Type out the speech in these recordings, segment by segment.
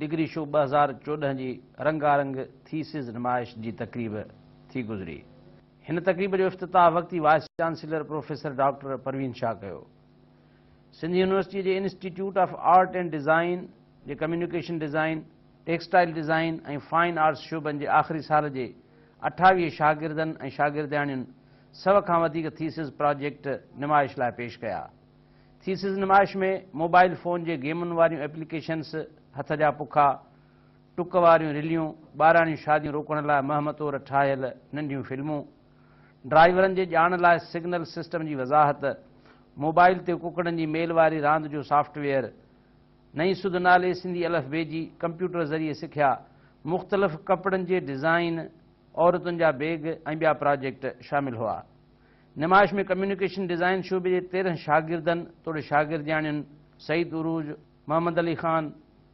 Degree show ٻه هزار چوڏهن جي رنگا رنگ ٿيسز نمائش جي تقريب ٿي گذري. هن تقريب جو افتتاح وقتي vice chancellor professor doctor Parveen Shah ڪيو. سنڌ يونيورسٽيء جي institute of art and design جي communication design, textile design ۽ fine arts شعبن جي آخري سال جي اٺاويهه شاگردن ۽ شاگردياڻين سو کان وڌيڪ ٿيسز پراجيڪٽ نمائش لاء پيش ڪيا. ٿيسز نمائش ۾ موبائيل فون جي گيمن واريون ايپليڪيشنس، هٿ جا پکا، ٽڪ واريون رليون، ٻاراڻيون شاديون روڪڻ لاء مهم طور ٺاهيل ننڍيون فلمون، ڊرائيورن جي ڄاڻ لاء سگنل سسٽم جي وضاحت، موبائيل تي ڪڪڙن جي ميل واري راند جو سافٽ ويئر، نئين سڌ نالي سنڌي الف بي جي ڪمپيوٽر ذريعي سکيا، مختلف ڪپڙن جي ڊزائين، عورتن جا بيگ ۽ ٻيا پراجيڪٽ شامل هئا. نمائش ۾ ڪميونيڪيشن ڊزائن شعبي جي تيرهن شاگردن توڙي شاگردياڻين سعيد عروج، محمد علي خان،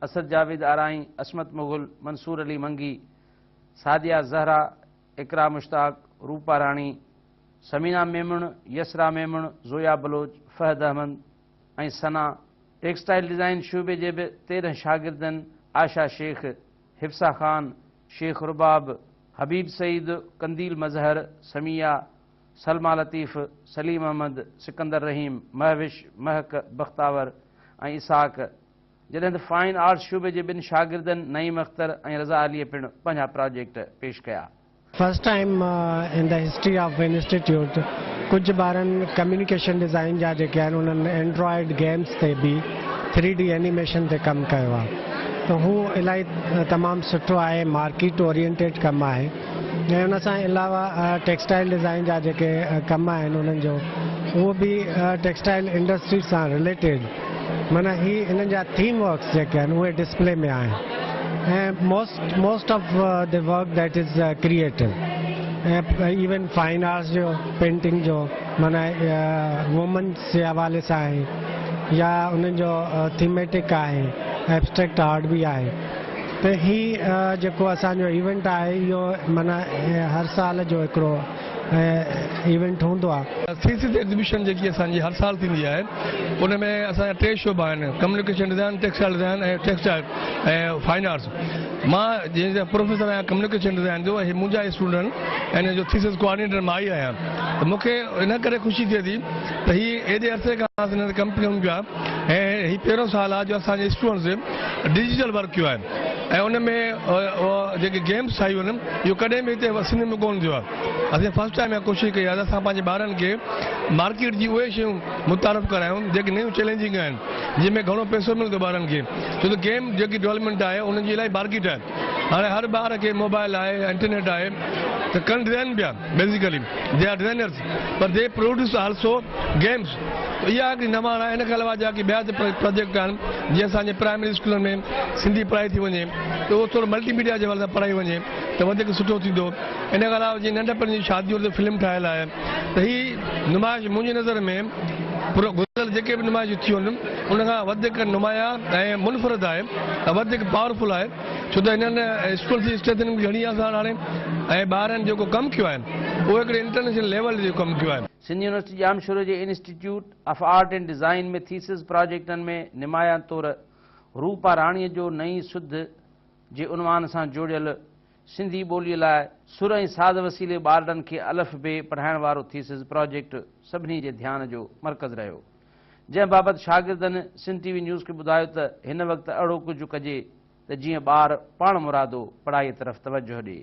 اسد جاويد آرائين، عصمت مغل، منصور علي منگي، سعديه الزهرا، اقرا مشتاق، روپا راڻي، ثمينه ميمڻ، يسرا ميمڻ، زويا بلوچ، فهد احمد ۽ ثنا، ٽيڪسٽائيل ڊزائن شعبي جي به تيرهن شاگردن عائشه شيخ، حفصه خان، شيخ رباب، حبيب سعيد، قنديل مظهر، سميعه، سلميٰ لطيف، سليم احمد، سڪندر رحيم، مهوش، مهڪ، بختاور ۽ اسحاق، جڏهن ته فائن آرٽس شعبي جي ٻن شاگردن نعيم اختر ۽ رضا عليء پڻ پنهنجا پراجيڪٽ پيش ڪيا. First time in the history of institute ڪجهه ٻارن ڪميونيڪيشن ڊيزائين جا جيڪي آهن انهن اينڊرائيڊ گيمس تي به ٿري ڊي اينيميشن تي ڪم ڪيو آهي ته هو الائي تمام سٺو آهي مارڪيٽ اورينٽيڊ ڪم آهي ۽ ان سان علاوه ٽيڪسٽائل ڊيزائين جا جيڪي ڪم آهن انهن جو اهو به ٽيڪسٽائل انڊسٽري سان رليٽيڊ معنيٰ هي هنن جا ٿيم ورڪس جيڪي آهن اهي ڊسپلي ۾ آهن ۽ most most of the work that is creative ۽ even fine arts جو پينٽنگ جو معنيٰ وومنس جي حوالي سان آهي يا انهن جو ٿيميٽڪ آهي ايبسٽريڪٽ آرٽ به آهي ته هي جيڪو اسان جو ايونٽ آهي اهو معنيٰ هر سال جو هڪڙو ايونٽ هوندو آهي. سي سي سي ايگزيبيشن جيڪي اسان جي هر سال ٿيندي آهي ان ۾ اسان جا ٽي شعبا آهن communication design, textile design ۽ textile ۽ fine arts مان جنهن جا پروفيسر آهيان ڪميونيڪيشن ڊزائن جو ۽ منهنجا اسٽوڊنٽ ان جو ٿيسز ڪوآرڊينيٽر مان ئي آهيان ته مون کي ان ڪري خوشي ٿئي ٿي ته هي ايڏي عرصي کان اسان هن تي ڪم ڪيون پيا ۽ هي پهريون سال آهي جو اسان جي اسٽوڊنٽس ڊجيٽل ورڪ ڪيو آهي. ۽ ان ۾ جيڪي گيمس ٺاهيون هن اهو ڪڏهن به هتي سنڌ ۾ ڪونه ٿيو آهي اسين فرسٽ ٽائيم اها ڪوشش ڪئي آهي ته اسان پنهنجي ٻارن کي مارڪيٽ جي اهي شيون متعارف ڪرايون جيڪي نيون چئلينجنگ آهن جن ۾ گهڻو پئسو ملندو ٻارن کي ڇو ته گيم جيڪي ڊولپمينٽ آهي ان جي الائي مارڪيٽ آهي هاڻي هر ٻار کي موبائل آهي انٽرنيٽ آهي ته ڪن ڊزائن پيا بيسيڪلي دي آر ڊزائنرز پر دي پروڊيوس آلسو گيمز اها هڪڙي نواڻ آهي ان کان علاوه جا ڪي ٻيا به پراجيڪٽ آهن جي اسان جي پرائمري اسڪولن ۾ سنڌي پڙهائي ٿي وڃي ته اهو ٿورو ملٽي ميڊيا جي حوالي سان پڙهائي وڃي ته وڌيڪ سٺو ٿيندو ان کان علاوه جي ننڍپڻ جي شاديون تي فلم ٺاهيل آهي ته هي نمائش منهنجي نظر ۾ گذريل جيڪي به نمائشون ٿيون آهن ان کان وڌيڪ نمايان ۽ منفرد آهي ۽ وڌيڪ پاورفل آهي ڇو ته هنن اسڪول جي اسٽرينٿ گهڻي آسان هاڻي ۽ ٻارن جيڪو ڪم ڪيو آهي اهو هڪڙي انٽرنيشنل ليول جو ڪم ڪيو آهي سنڌ يونيورسٽي ڄامشوري جي institute of art and design ۾ thesis پراجيڪٽن ۾ نمايان طور روپا راڻيء جو نئين سڌ جي عنوان سان جوڙيل سنڌي ٻوليء لاء سر ۽ ساز وسيلي ٻارڙن کي الف بي پڙهائڻ وارو ٿيسز پراجيڪٽ سڀني جي ڌيان جو مرڪز رهيو جنهن بابت شاگردن سنڌ ٽي وي نيوز کي ٻڌايو ته هن وقت اهڙو ڪجهه ڪجي ته جيئن ٻار پاڻمرادو پڙهائيء طرف توجهه ڏئي.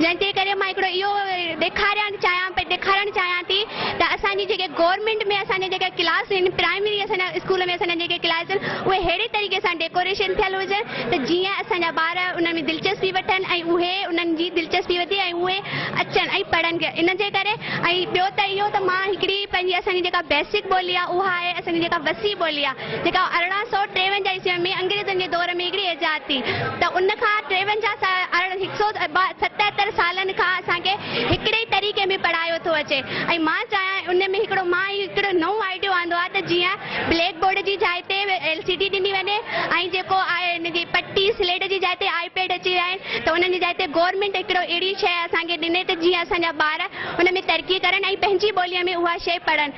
جنهن جي ڪري مان هڪڙو اهو ڏيکارڻ چاهيان پئي ڏيکارڻ چاهيان ٿي ته اسان جي جيڪي گورنمينٽ ۾ اسان جا جيڪا ڪلاس آهن پرائمري اسان جا اسڪول ۾ اسان جا جيڪي ڪلاس آهن اهي ههڙي طريقي سان ڊيڪوريشن ٿيل هجن ته جيئن اسان جا ٻار انهن ۾ دلچسپي وٺن ۽ اهي انهن جي دلچسپي وڌي ۽ اهي اچن ۽ پڙهن ڪي ان جي ڪري ۽ ٻيو ته اهو ته مان هڪڙي پنهنجي اسان جي جيڪا بيسڪ ٻولي آهي اها آهي اسان جي جيڪا وسيع ٻولي آهي جيڪا ارڙهن سؤ ٽيونجاهه عيسوي ۾ انگريزن جي دور ۾ هڪڙي ايجاد ٿي ته ان کان ٽيونجاهه سال ارڙهن هڪ سؤ ستهتر سالن کان اسان کي هڪڙي ئي طريقي ۾ پڙهايو ٿو اچي ۽ مان چاهيان ان ۾ هڪڙو مان هي هڪڙو نئون آئيڊيو آندو آهي ته جيئن بليڪ بورڊ جي جاء تي ايل سي ڊي ڏني وڃي ۽ جيڪو آهي ان جي پٽي سليٽ جي جاء تي آئي پيڊ اچي ويا آهن ته انهن جي جاء تي گورنمينٽ هڪڙو اهڙي شيء اسان کي ڏني ته جيئن اسان جا ٻار ان ۾ ترقي ڪرن ۽ پنهنجي ٻوليء ۾ اها شيء پڙهن.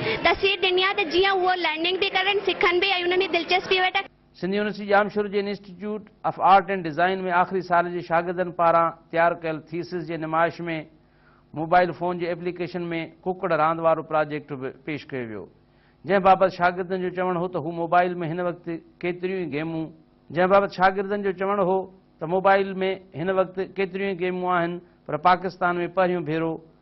تسلي ڏني آهي ته جيئن هو لرننگ به ڪرن، سکن به ۽ انهن ۾ دلچسپي وٺن. سنڌ يونيورسٽي ڄامشورو جي institute of art and design ۾ آخري سال جي شاگردن پاران تيار ڪيل ٿيسز جي نمائش ۾ موبائيل فون جي ايپليڪيشن ۾ ڪڪڙ راند وارو پراجيڪٽ به پيش ڪيو ويو جنهن بابت شاگردن جو چوڻ هو ته هو موبائيل ۾ هن وقت ڪيتريون ئي گيمون جنهن بابت شاگردن جو چوڻ هو ته موبائيل ۾ هن وقت ڪيتريون ئي گيمون آهن پر پاڪستان ۾ پهريون ڀيرو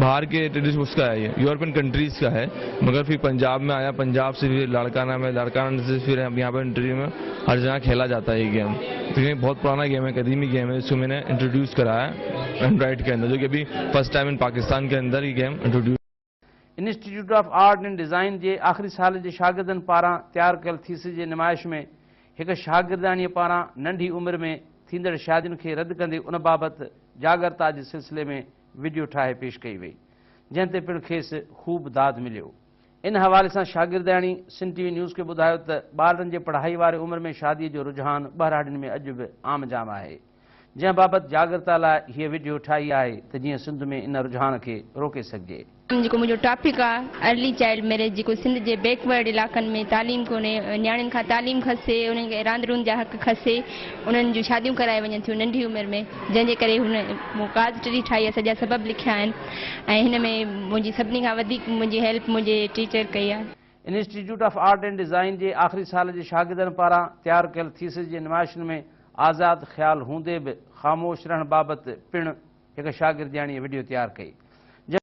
بھار ڪي ٽيڊيس اس ڪا ھي يورپين ڪنٽريز ڪا ھي مگر پھر پنجاب مي آيا پنجاب سي پھر لاڙڪانا مي لاڙڪانا سي پھر يھان پي انٽرويو مي ھر جگا کيلا جاتا ھي گيم ڪيونڪ بھت پرانا گيم ھي قديمي گيم ھي اسڪو مي ني انٽروڊيوس ڪرايا اينڊرائيڊ ڪي اندر جو ڪي ابھي فرسٽ ٽائيم ان پاڪستان ڪي اندر ھي game introduce institute of art and design جي آخري سال جي شاگردن پاران تيار ڪيل ٿيسز جي نمائش ۾ ھڪ شاگردياڻيء پاران ننڍي عمر ۾ ٿيندڙ شادين کي رد ڪندي ان بابت جاڳرتا جي سلسلي ۾ وڊيو ٺاهي پيش ڪئي وئي جنهن تي پڻ کيس خوب داد مليو ان حوالي سان شاگردياڻي سنڌ ٽي وي نيوز کي ٻڌايو ته ٻارڙن جي پڙهائي واري عمر ۾ شادي جو رجحان ٻهراڙين ۾ اڄ به عام جام آهي جنهن بابت جاڳرتا لاء هيء وڊيو ٺاهي آهي ته جيئن سنڌ ۾ ان رجحان کي روڪي سگهجي. جيڪو منهنجو ٽاپڪ آ ارلي چائلڊ ميريج جيڪو سنڌ جي بيڪ ورڊ علائقن ۾ تعليم ڪونهي نياڻين کان تعليم کسي انهن کي راند روند جا حق کسي انهن جون شاديون ڪرائي وڃن ٿيون ننڍي عمر ۾ جنهن جي ڪري هن مون ڪاز ٽري ٺاهي آ سڄا سبب لکيا آهن ۽ هن ۾ منهنجي سڀني کان وڌيڪ منهنجي هيلپ منهنجي ٽيچر ڪئي آ. Institute of art and design جي آخري سال جي شاگردن پاران تيار ڪيل ٿيسز جي نمائشن ۾ آزاد خيال هوندي به خاموش رهڻ بابت پڻ هڪ شاگردياڻيء وڊيو تيار ڪئي، جنهن.